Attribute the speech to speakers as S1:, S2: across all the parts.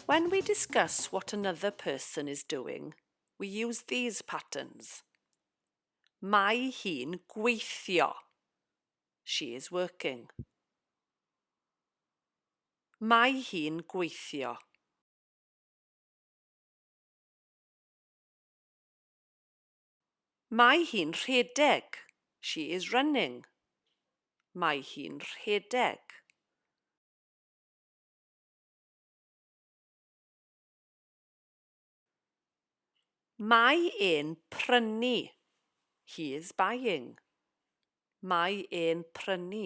S1: When we discuss what another person is doing, we use these patterns. Mae hi'n gweithio. She is working. Mae hi'n gweithio. Mae hi'n rhedeg. She is running. Mae hi'n rhedeg. Mae e'n prynu. He is buying. Mae e'n prynu.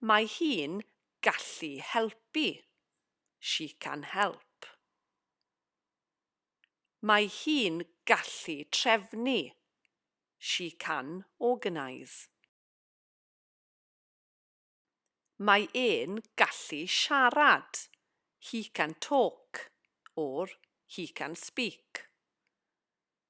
S1: Mae hi'n gallu helpu. She can help. Mae hi'n gallu trefnu. She can organise. Mae e'n gallu siarad. He can talk or he can speak.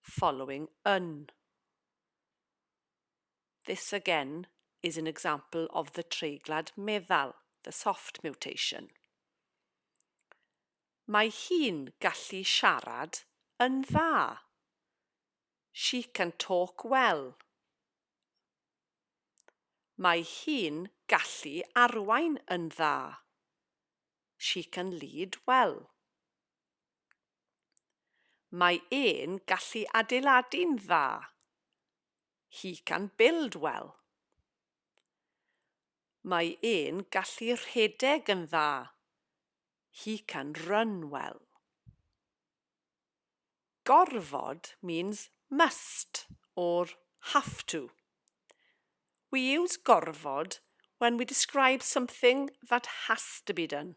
S1: following yn This again is an example of the treiglad meddal, the soft mutation. Mae hi'n gallu siarad yn dda. She can talk well. Mae hi'n gallu arwain yn dda. She can lead well. Mae e'n gallu adeiladu'n dda. He can build well. Mae e'n gallu rhedeg yn dda. He can run well. Gorfod means must or have to. We use gorfod when we describe something that has to be done.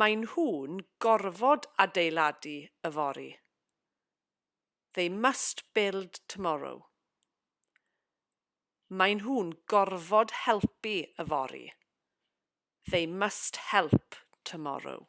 S1: Maen nhw'n gorfod adeiladu yfory. They must build tomorrow. Maen nhw'n gorfod helpu yfory. They must help tomorrow.